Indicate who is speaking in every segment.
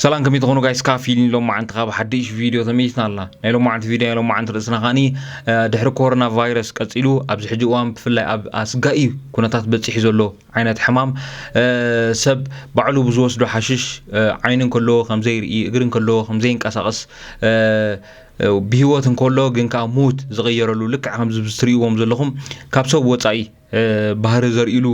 Speaker 1: ሰላም ከመይ ትኾኑ ጋይስ ካብ ፊልም ሎማዓንቲ ካብ ሓድሽ ቪድዮ ተመይስና ኣላ ናይ ሎማዓንቲ ቪድዮ ናይ ሎማዓንቲ ርእስና ከዓኒ ድሕሪ ኮሮና ቫይረስ ቀፂሉ ኣብዚ ሕጂ እዋን ብፍላይ ኣብ ኣስጋኢ ኩነታት በፂሑ ዘሎ ዓይነት ሕማም ሰብ ባዕሉ ብዝወስዶ ሓሽሽ ዓይኒ እንከለዎ ከም ዘይርኢ እግሪ እንከለዎ ከም ዘይንቀሳቐስ ብሂወት እንከሎ ግን ከዓ ሙት ዝቐየረሉ ልክዕ ከምዚ ትርእይዎም ዘለኹም ካብ ሰብ ወፃኢ ባህሪ ዘርእሉ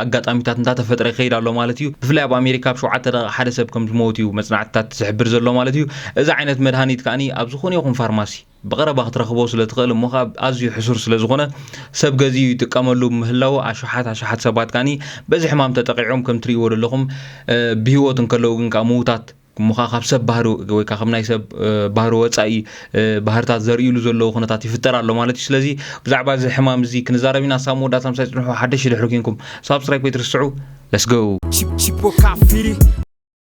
Speaker 1: ኣጋጣሚታት እንዳተፈጥረ ይኸይድ ኣሎ ማለት እዩ ብፍላይ ኣብ ኣሜሪካ ኣብ ሸውዓተ ደቂቕ ሓደ ሰብ ከም ዝመውት እዩ መፅናዕትታት ዝሕብር ዘሎ ማለት እዩ እዚ ዓይነት መድሃኒት ከዓኒ ኣብ ዝኾነ ይኹን ፋርማሲ ብቐረባ ክትረኽቦ ስለ ትኽእል እሞ ከኣ ኣዝዩ ሕሱር ስለ ዝኾነ ሰብ ገዚኡ ይጥቀመሉ ብምህላዉ ኣሽሓት ኣሽሓት ሰባት ከኣ በዚ ሕማም ተጠቒዖም ከም ትርእይዎ ዘለኹም ብሂወት እንከለዉ ግን ከኣ ምዉታት እሞ ከኣ ካብ ሰብ ባህሪ ወይ ከኣ ካብ ናይ ሰብ ባህሪ ወጻኢ ባህርታት ዘርእይሉ ዘለዉ ኩነታት ይፍጠር ኣሎ ማለት እዩ ስለዚ ብዛዕባ እዚ ሕማም እዚ ክንዛረብ ኢና ሳብ መወዳእታ ምሳይ ጽንሑ ሓደሽቲ ድሕሪ ኩንኩም ሳብስክራይብ ከይትርስዑ Let's go Chip, chip, o cafiri.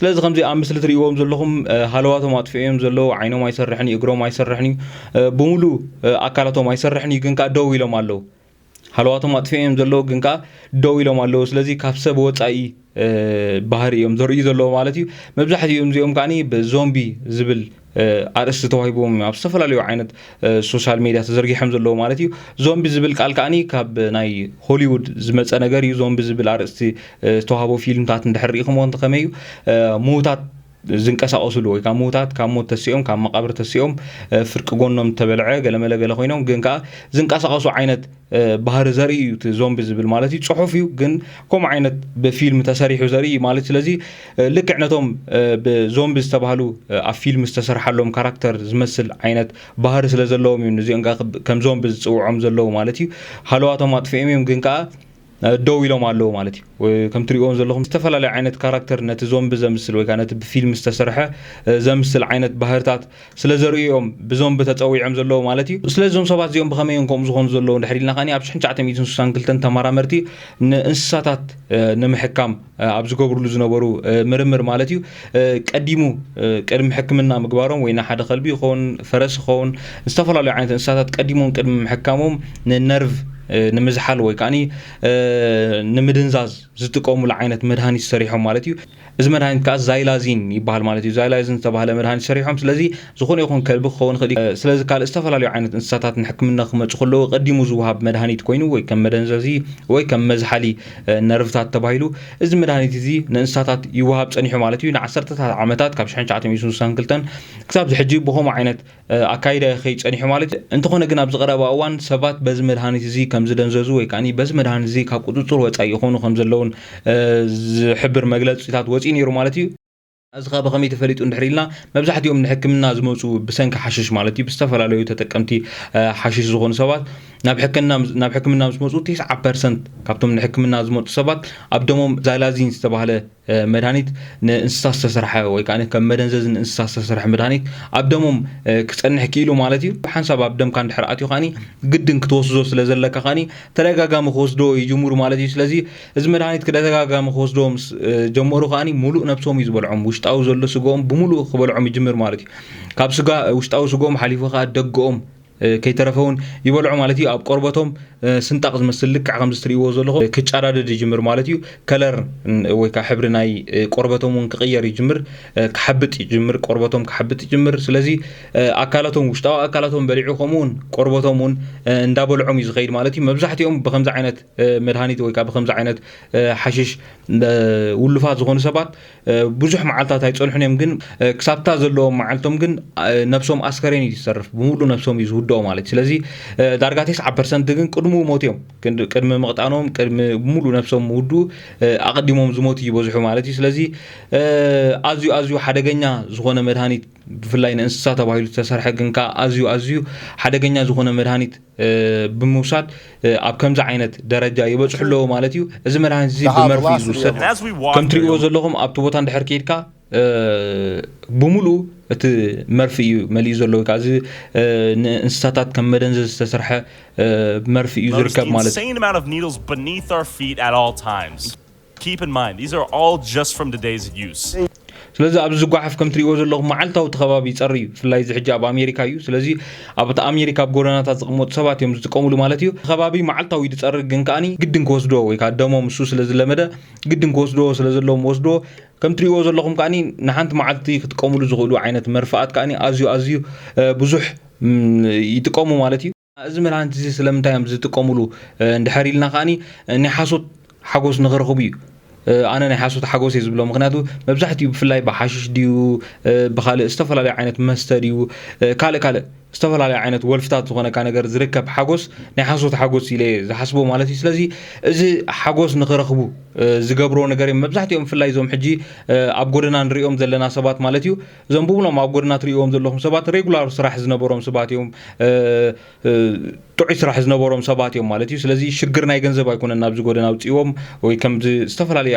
Speaker 1: ስለዚ ከምዚ ኣብ ምስሊ ትርእይዎም ዘለኹም ሃለዋቶም ኣጥፍኦ እዮም ዘለዉ ዓይኖም ኣይሰርሕን እዩ እግሮም ኣይሰርሕን እዩ ብምሉ ኣካላቶም ኣይሰርሕን እዩ ግን ከዓ ደው ኢሎም ኣለዉ ሃለዋቶም ኣጥፍኦ እዮም ዘለዉ ግን ከዓ ደው ኢሎም ኣለዉ ስለዚ ካብ ሰብ ወፃኢ ባህሪ እዮም ዘርእዩ ዘለዎ ማለት እዩ መብዛሕትኦም እዚኦም ከዓ ብዞምቢ ዝብል ኣርእስቲ ተዋሂቦም ኣብ ዝተፈላለዩ ዓይነት ሶሻል ሜድያ ተዘርጊሖም ዘለዎ ማለት እዩ ዞምቢ ዝብል ቃል ከዓኒ ካብ ናይ ሆሊውድ ዝመፀ ነገር እዩ ዞምቢ ዝብል ኣርእስቲ ዝተዋህቦ ፊልምታት እንድሕር ሪኢኹምዎ እንተኸመይ እዩ ምዉታት ዝንቀሳቐሱሉ ወይ ከዓ ምዉታት ካብ ሞት ተሲኦም ካብ መቓብር ተሲኦም ፍርቂ ጎኖም ተበልዐ ገለመለ ገለ ኮይኖም ግን ከዓ ዝንቀሳቐሱ ዓይነት ባህሪ ዘርኢ እዩ እቲ ዞምቢ ዝብል ማለት እዩ ፅሑፍ እዩ ግን ከምኡ ዓይነት ብፊልም ተሰሪሑ ዘርኢ እዩ ማለት ስለዚ ልክዕ ነቶም ብዞምቢ ዝተባህሉ ኣብ ፊልም ዝተሰርሓሎም ካራክተር ዝመስል ዓይነት ባህሪ ስለ ዘለዎም እዩ ንዚኦም ከም ዞምቢ ዝፅውዖም ዘለዉ ማለት እዩ ሃለዋቶም ኣጥፍኦም እዮም ግን ከዓ ደው ኢሎም ኣለዉ ማለት እዩ ከም ትሪእዎም ዘለኹም ዝተፈላለዩ ዓይነት ካራክተር ነቲ ዞምቢ ዘምስል ወይ ከዓ ነቲ ብፊልም ዝተሰርሐ ዘምስል ዓይነት ባህርታት ስለ ዘርእዩ እዮም ብዞምቢ ተፀዊዖም ዘለዉ ማለት እዩ ስለዚ እዞም ሰባት እዚኦም ብኸመይ እዮም ከምኡ ዝኾኑ ዘለዉ ድሕሪ ኢልና ከዓኒ ኣብ ሽሕን ትሽዓተ ሚእትን ስሳን ክልተን ተመራመርቲ ንእንስሳታት ንምሕካም ኣብ ዝገብርሉ ዝነበሩ ምርምር ማለት እዩ ቀዲሙ ቅድሚ ሕክምና ምግባሮም ወይ ንሓደ ከልቢ ይኸውን ፈረስ ይኸውን ዝተፈላለዩ ዓይነት እንስሳታት ቀዲሞም ቅድሚ ምሕካሞም ንነርቭ ንምዝሓል ወይ ከዓኒ ንምድንዛዝ ዝጥቀሙሉ ዓይነት መድሃኒት ሰሪሖም ማለት እዩ እዚ መድሃኒት ከዓ ዛይላዚን ይበሃል ማለት እዩ ዛይላዚን ዝተባሃለ መድሃኒት ሰሪሖም ስለዚ ዝዀነ ይኹን ከልቢ ክኸውን ይኽእል እዩ። ስለዚ ካልእ ዝተፈላለዩ ዓይነት እንስሳታት ንሕክምና ክመጹ ከለዉ ቀዲሙ ዝወሃብ መድሃኒት ኮይኑ ወይ ከም መደንዘዚ ወይ ከም መዝሓሊ ነርቭታት ተባሂሉ እዚ መድሃኒት እዚ ንእንስሳታት ይወሃብ ጸኒሑ ማለት እዩ። ንዓሰርተታት ዓመታት ካብ 1962 ክሳብ ዝሕጂ ብኸምኡ ዓይነት ኣካይዳ ይኸይድ ጸኒሑ ማለት እዩ። እንተኾነ ግን ኣብዚ ቀረባ እዋን ሰባት በዚ መድሃኒት እዚ ከም ዝደንዘዙ ወይ ከኣ በዚ መድሃኒት እዚ ካብ ቁጽጽር ወጻኢ ይኾኑ ከም ዘለዉን ዝሕብር መግለጺታት ወጺኡ ነይሩ ማለት እዩ። ኣዚ ከኣ ብከመይ ተፈሊጡ እንድሕር ኢልና መብዛሕቲኦም ንሕክምና ዝመጹ ብሰንኪ ሓሽሽ ማለት እዩ ብዝተፈላለዩ ተጠቀምቲ ሓሽሽ ዝኾኑ ሰባት ናብ ሕክምና ናብ ሕክምና ምስ መጹ 90% ካብቶም ንሕክምና ዝመጹ ሰባት ኣብ ደሞም ዛላዚን ዝተባህለ መድሃኒት ንእንስሳ ዝተሰርሐ ወይ ከኣ ከም መደንዘዚ ንእንስሳ ዝተሰርሐ መድሃኒት ኣብ ደሞም ክጸንሕ ክኢሉ ማለት እዩ ሓንሳብ ኣብ ደምካ እንድሕር ኣትዩ ከኣኒ ግድን ክትወስዶ ስለ ዘለካ ከኣኒ ተደጋጋሚ ክወስዶ ይጅምሩ ማለት እዩ ስለዚ እዚ መድሃኒት ክደተጋጋሚ ክወስድዎ ምስ ጀመሩ ከኣ ሙሉእ ነብሶም እዩ ዝበልዖም ውሽጣዊ ዘሎ ስግኦም ብምሉእ ክበልዖም ይጅምር ማለት እዩ ካብ ስጋ ውሽጣዊ ስግኦም ሓሊፉ ከኣ ደገኦም ከይተረፈ እውን ይበልዖ ማለት እዩ ኣብ ቆርበቶም ስንጣቕ ዝመስል ልክዕ ከምዚ ትርእይዎ ዘለኹ ክጫዳደድ ይጅምር ማለት እዩ ከለር ወይ ከዓ ሕብሪ ናይ ቆርበቶም እውን ክቕየር ይጅምር ክሓብጥ ይጅምር ቆርበቶም ክሓብጥ ይጅምር ስለዚ ኣካላቶም ውሽጣዊ ኣካላቶም በሊዑ ከምኡውን ቆርበቶም እውን እንዳበልዖም እዩ ዝኸይድ ማለት እዩ መብዛሕትኦም ብከምዚ ዓይነት መድሃኒት ወይ ከዓ ብከምዚ ዓይነት ሓሽሽ ውሉፋት ዝኾኑ ሰባት ብዙሕ መዓልታት ኣይፀንሑን እዮም ግን ክሳብታ ዘለዎም መዓልቶም ግን ነብሶም ኣስከሬን እዩ ዝሰርፍ ብምሉ ነብሶም እዩ ዝውድኦ ማለት እዩ ስለዚ ዳርጋ ቴስዓ ፐርሰንት ግን ቅድሙ ሞት እዮም ቅድሚ ምቕጣኖም ቅድሚ ሙሉ ነብሶም ምውድኡ ኣቐዲሞም ዝሞት እዩ ይበዝሑ ማለት እዩ ስለዚ ኣዝዩ ኣዝዩ ሓደገኛ ዝኾነ መድሃኒት ብፍላይ ንእንስሳ ተባሂሉ ዝተሰርሐ ግን ከዓ ኣዝዩ ኣዝዩ ሓደገኛ ዝኾነ መድሃኒት ብምውሳድ ኣብ ከምዚ ዓይነት ደረጃ ይበፅሑ ኣለዎ ማለት እዩ እዚ መድሃኒት እዚ ብመርፊ እዩ ዝውሰድ ከም ትሪእዎ ዘለኹም ኣብቲ ቦታ እንድሕር ከይድካ ብምሉኡ እቲ መርፊ እዩ መሊኡ ዘሎ ወይ ከዓ እዚ ንእንስሳታት ከም መደንዘ ዝተሰርሐ መርፊ እዩ ዝርከብ ማለት
Speaker 2: እዩ Keep in mind, these are all just from the days of use. ስለዚ ኣብዚ
Speaker 1: ዝጓሓፍ ከም ትሪእዎ ዘለኹም መዓልታዊ እቲ ከባቢ ይጸሪ እዩ ብፍላይ እዚ ሕጂ ኣብ ኣሜሪካ እዩ ስለዚ ኣብ እቲ ኣሜሪካ ኣብ ጎደናታት ዝቕመጡ ሰባት እዮም ዝጥቀሙሉ ማለት እዩ ከባቢ መዓልታዊ እዩ ዝጸርግ ግን ከዓኒ ግድን ክወስድዎ ወይ ከዓ ደሞም እሱ ስለ ዝለመደ ግድን ክወስድዎ ስለ ዘለዎም ወስድዎ ከም ትሪእዎ ዘለኹም ከዓኒ ንሓንቲ መዓልቲ ክጥቀሙሉ ዝኽእሉ ዓይነት መርፍኣት ከዓኒ ኣዝዩ ኣዝዩ ብዙሕ ይጥቀሙ ማለት እዩ እዚ መድሃኒት እዚ ስለምንታይ እዮም ዝጥቀሙሉ እንድሕር ኢልና ከዓኒ ናይ ሓሶት ሓጎስ ንክረኽቡ እዩ ኣነ ናይ ሓሶት ሓጎስ እየ ዝብሎ ምክንያቱ መብዛሕትኡ ብፍላይ ብሓሽሽ ድዩ ብካልእ ዝተፈላለዩ ዓይነት መስተ ድዩ ካልእ ካልእ ዝተፈላለዩ ዓይነት ወልፍታት ዝኾነካ ነገር ዝርከብ ሓጎስ ናይ ሓሶት ሓጎስ ኢለ ዝሓስቦ ማለት እዩ ስለዚ እዚ ሓጎስ ንክረኽቡ ዝገብሮ ነገር እዮም መብዛሕትኦም ብፍላይ እዞም ሕጂ ኣብ ጎደና ንሪኦም ዘለና ሰባት ማለት እዩ እዞም ብብሎም ኣብ ጎደና ትርእይዎም ዘለኹም ሰባት ሬጉላር ስራሕ ዝነበሮም ሰባት እዮም፣ ጥዑይ ስራሕ ዝነበሮም ሰባት እዮም ማለት እዩ። ስለዚ ሽግር ናይ ገንዘብ ኣይኮነን ናብዚ ጎደና ኣውፅእዎም ወይ ከምዚ ዝተፈላለዩ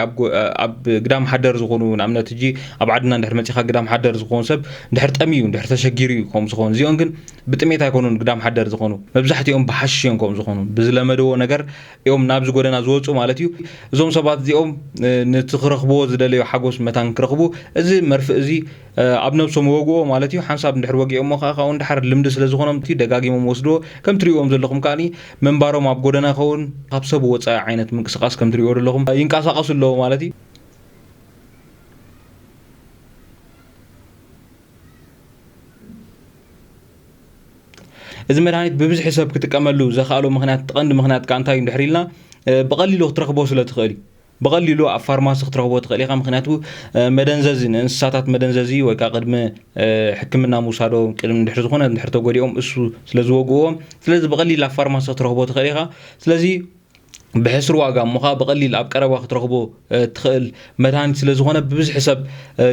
Speaker 1: ኣብ ግዳም ሓደር ዝኾኑ ንኣብነት እጂ ኣብ ዓድና እንድሕር መፂኻ ግዳም ሓደር ዝኾን ሰብ እንድሕር ጠምዩ እንድሕር ተሸጊሩ እዩ ከምኡ ዝኾኑ እዚኦም ግን ብጥሜት ኣይኮኑን ግዳም ሓደር ዝኾኑ መብዛሕትኦም ብሓሽሽ እዮም ከምኡ ዝኾኑ ብዝለመደዎ ነገር እዮም ናብዚ ጎደና ዝወጹ ማለት እዩ። እዞም ሰባት እዚኦም ነቲ ክረኽብዎ ዝደለዩ ሓጎስ መታን ክረኽቡ እዚ መርፍእ እዚ ኣብ ነብሶም ይወግዎ ማለት እዩ። ሓንሳብ እንድሕር ወጊኦሞ ከኣ ካብኡ ንደሓር ልምዲ ስለ ዝኾኖም እቲ ደጋጊሞም ይወስድዎ። ከም ትርእይዎም ዘለኹም ከኣ ምንባሮም ኣብ ጎደና ይኸውን ካብ ሰብ ወጻኢ ዓይነት ምንቅስቃስ ከም ትርእይዎ ዘለኹም ይንቃሳቀሱ ኣለዉ ማለት እዩ። እዚ መድሃኒት ብብዝሒ ሰብ ክጥቀመሉ ዘኽኣሎ ምክንያት እቲ ቀንዲ ምክንያት ከዓ እንታይ እዩ እንድሕር ኢልና ብቐሊሉ ክትረኽቦ ስለ ትኽእል እዩ ብቐሊሉ ኣብ ፋርማሲ ክትረኽቦ ትኽእል ኢኻ ምክንያቱ መደንዘዚ ንእንስሳታት መደንዘዚ ወይ ከዓ ቅድሚ ሕክምና ምውሳዶ ቅድሚ ድሕሪ ዝኾነ ድሕሪ ተጎዲኦም እሱ ስለ ዝወግእዎ ስለዚ ብቐሊል ኣብ ፋርማሲ ክትረኽቦ ትኽእል ኢኻ ስለዚ ብሕስር ዋጋ እሞ ከዓ ብቐሊል ኣብ ቀረባ ክትረኽቦ ትኽእል መድሃኒት ስለ ዝኾነ ብብዝሒ ሰብ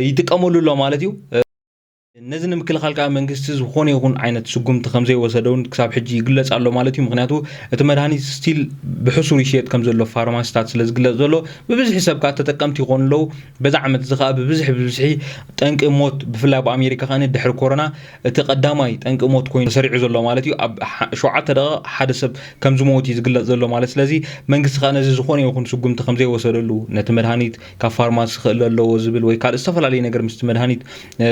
Speaker 1: ይጥቀመሉ ኣሎ ማለት እዩ ነዚ ንምክልኻል ከዓ መንግስቲ ዝኾነ ይኹን ዓይነት ስጉምቲ ከምዘይወሰደ እውን ክሳብ ሕጂ ይግለፅ ኣሎ ማለት እዩ ምክንያቱ እቲ መድሃኒት ስቲል ብሕሱር ይሽየጥ ከም ዘሎ ፋርማሲታት ስለ ዝግለፅ ዘሎ ብብዝሒ ሰብ ከዓ ተጠቀምቲ ይኾኑ ኣለዉ በዚ ዓመት እዚ ከዓ ብብዝሒ ብብዝሒ ጠንቂ ሞት ብፍላይ ኣብ ኣሜሪካ ከዓ ድሕሪ ኮሮና እቲ ቀዳማይ ጠንቂ ሞት ኮይኑ ተሰሪዑ ዘሎ ማለት እዩ ኣብ ሸውዓተ ደቂቕ ሓደ ሰብ ከም ዝመውት እዩ ዝግለፅ ዘሎ ማለት ስለዚ መንግስቲ ከዓ ነዚ ዝኾነ ይኹን ስጉምቲ ከም ዘይወሰደሉ ነቲ መድሃኒት ካብ ፋርማሲ ክእለ ኣለዎ ዝብል ወይ ካልእ ዝተፈላለየ ነገር ምስቲ መድሃኒት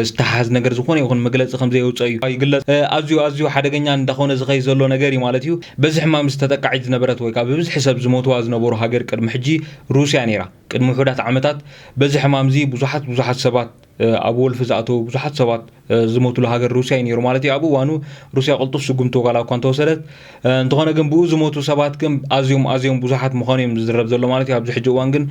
Speaker 1: ዝተሓሓዝ ነገር ዝኾነ ይኹን መግለፂ ከምዘየውፀእ እዩ ይግለፅ። ኣዝዩ ኣዝዩ ሓደገኛ እንዳኾነ ዝኸይድ ዘሎ ነገር እዩ ማለት እዩ። በዚ ሕማም እዚ ተጠቃዒት ዝነበረት ወይ ከዓ ብብዝሒ ሰብ ዝሞትዋ ዝነበሩ ሃገር ቅድሚ ሕጂ ሩስያ ነይራ። ቅድሚ ውሑዳት ዓመታት በዚ ሕማም እዚ ብዙሓት ብዙሓት ሰባት ኣብ ወልፊ ዝኣተው ብዙሓት ሰባት ዝሞትሉ ሃገር ሩስያ እዩ ነይሩ ማለት እዩ። ኣብ እዋኑ ሩስያ ቅልጡፍ ስጉምቲ ዋላ እኳ እንተወሰደት እንተኾነ ግን ብኡ ዝሞቱ ሰባት ግን ኣዝዮም ኣዝዮም ብዙሓት ምዃኑ እዮም ዝዝረብ ዘሎ ማለት እዩ። ኣብዚ ሕጂ እዋን ግን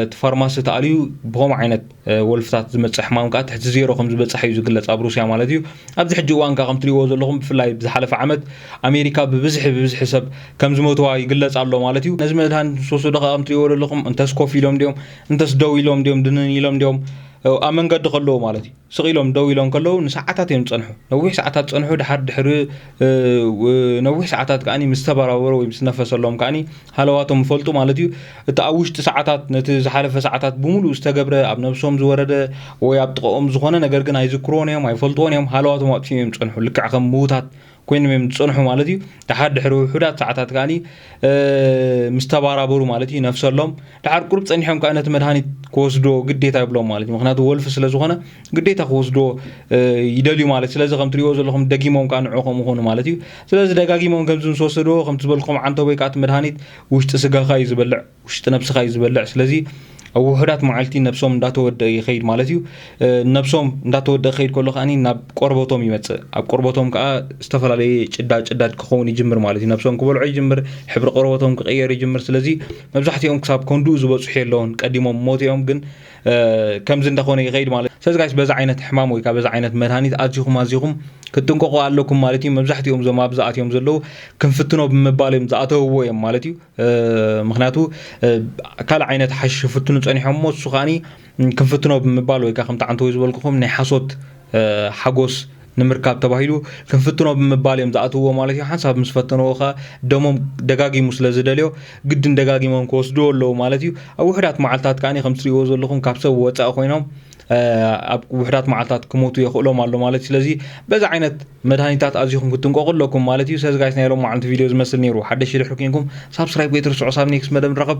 Speaker 1: እቲ ፋርማሲ ተኣልዩ ብኸምኡ ዓይነት ወልፍታት ዝመጽእ ሕማም ከኣ ትሕቲ ዜሮ ከም ዝበጽሐ እዩ ዝግለጽ ኣብ ሩስያ ማለት እዩ ኣብዚ ሕጂ እዋን ከኣ ከም ትሪእዎ ዘለኹም ብፍላይ ብዝሓለፈ ዓመት ኣሜሪካ ብብዝሒ ብብዝሒ ሰብ ከም ዝመትዋ ይግለጽ ኣሎ ማለት እዩ ነዚ መድሃኒት ምስ ወሰዱ ከኣ ከም ትሪእዎ ዘለኹም እንተስ ኮፍ ኢሎም ድዮም እንተስ ደው ኢሎም ድዮም ድንን ኢሎም ድዮም ኣብ መንገዲ ከለዉ ማለት እዩ ስቕ ኢሎም ደው ኢሎም ከለዉ ንሰዓታት እዮም ዝጸንሑ ነዊሕ ሰዓታት ጸንሑ ድሓር ድሕሪ ነዊሕ ሰዓታት ከኣ ምስ ተበራበሩ ወይ ምስ ነፈሰሎም ከኣ ሃለዋቶም ይፈልጡ ማለት እዩ። እቲ ኣብ ውሽጢ ሰዓታት ነቲ ዝሓለፈ ሰዓታት ብምሉኡ ዝተገብረ ኣብ ነብሶም ዝወረደ ወይ ኣብ ጥቐኦም ዝኾነ ነገር ግን ኣይዝክርዎን እዮም፣ ኣይፈልጥዎን እዮም። ሃለዋቶም ኣጥፊኦም እዮም ዝጸንሑ። ልክዕ ከም ምዉታት ኮይኖም እዮም ዝጸንሑ ማለት እዩ። ደሓር ድሕሪ ውሑዳት ሰዓታት ከኣኒ ምስ ተባራበሩ ማለት እዩ ነፍሰሎም ደሓር ቁሩብ ጸኒሖም ከኣ ነቲ መድሃኒት ክወስድዎ ግዴታ ይብሎም ማለት እዩ። ምክንያቱ ወልፊ ስለ ዝኾነ ግዴታ ክወስድዎ ይደልዩ ማለት ስለዚ ከም ትርእይዎ ዘለኹም ደጊሞም ከኣ ንዕኡ ከምኡ ኮኑ ማለት እዩ። ስለዚ ደጋጊሞም ከምዚ ምስ ወሰድዎ ከምቲ ዝበልክኹም ዓንተቦ ወይ ከኣ እቲ መድሃኒት ውሽጢ ስጋኻ እዩ ዝበልዕ፣ ውሽጢ ነብስኻ እዩ ዝበልዕ። ስለዚ ኣብ ውሑዳት መዓልቲ ነብሶም እንዳተወድኣ ይኸይድ ማለት እዩ። ነብሶም እንዳተወድኣ ክኸይድ ከሎ ከኣ ናብ ቆርበቶም ይመጽእ። ኣብ ቆርበቶም ከኣ ዝተፈላለየ ጭዳ ጭዳድ ክኸውን ይጅምር ማለት እዩ። ነብሶም ክበልዖ ይጅምር፣ ሕብሪ ቆርበቶም ክቕየር ይጅምር። ስለዚ መብዛሕትኦም ክሳብ ከንድኡ ዝበጽሑ የለውን፣ ቀዲሞም ሞት እዮም። ግን ከምዚ እንዳኾነ ይኸይድ ማለት እዩ ስለዚ ጋይስ በዚ ዓይነት ሕማም ወይ በዚ ዓይነት መድሃኒት ኣዚኹም ኣዚኹም ክትጥንቀቑ ኣለኩም ማለት እዩ መብዛሕትኦም እዞም ኣብዚ ኣትዮም ዘለዉ ክንፍትኖ ብምባል እዮም ዝኣተውዎ እዮም ማለት እዩ ምክንያቱ ካልእ ዓይነት ሓሽሽ ፍትኑ ጸኒሖም እሞ እሱ ከዓኒ ክንፍትኖ ብምባል ወይ ከዓ ከምቲ ዓንተ ወይ ዝበልኩኹም ናይ ሓሶት ሓጎስ ንምርካብ ተባሂሉ ክንፍትኖ ብምባል እዮም ዝኣትውዎ ማለት እዩ ሓንሳብ ምስ ፈተንዎ ከኣ ደሞም ደጋጊሙ ስለ ዝደልዮ ግድን ደጋጊሞም ክወስድዎ ኣለዉ ማለት እዩ ኣብ ውሕዳት መዓልትታት ከኣ ከም ትሪእዎ ዘለኹም ካብ ሰብ ወፃኢ ኮይኖም ኣብ ውሕዳት መዓልትታት ክሞቱ የኽእሎም ኣሎ ማለት እዩ ስለዚ በዚ ዓይነት መድሃኒታት ኣዚኹም ክትንቀቑ ኣለኩም ማለት እዩ ሰዚ ጋይስ ናይ ሎም መዓልቲ ቪድዮ ዝመስል ነይሩ ሓደሽ ሽድሕሪ ኮንኩም ሳብስክራይብ ከይትርስዑ ሳብ ኔክስት መደብ ንራኸብ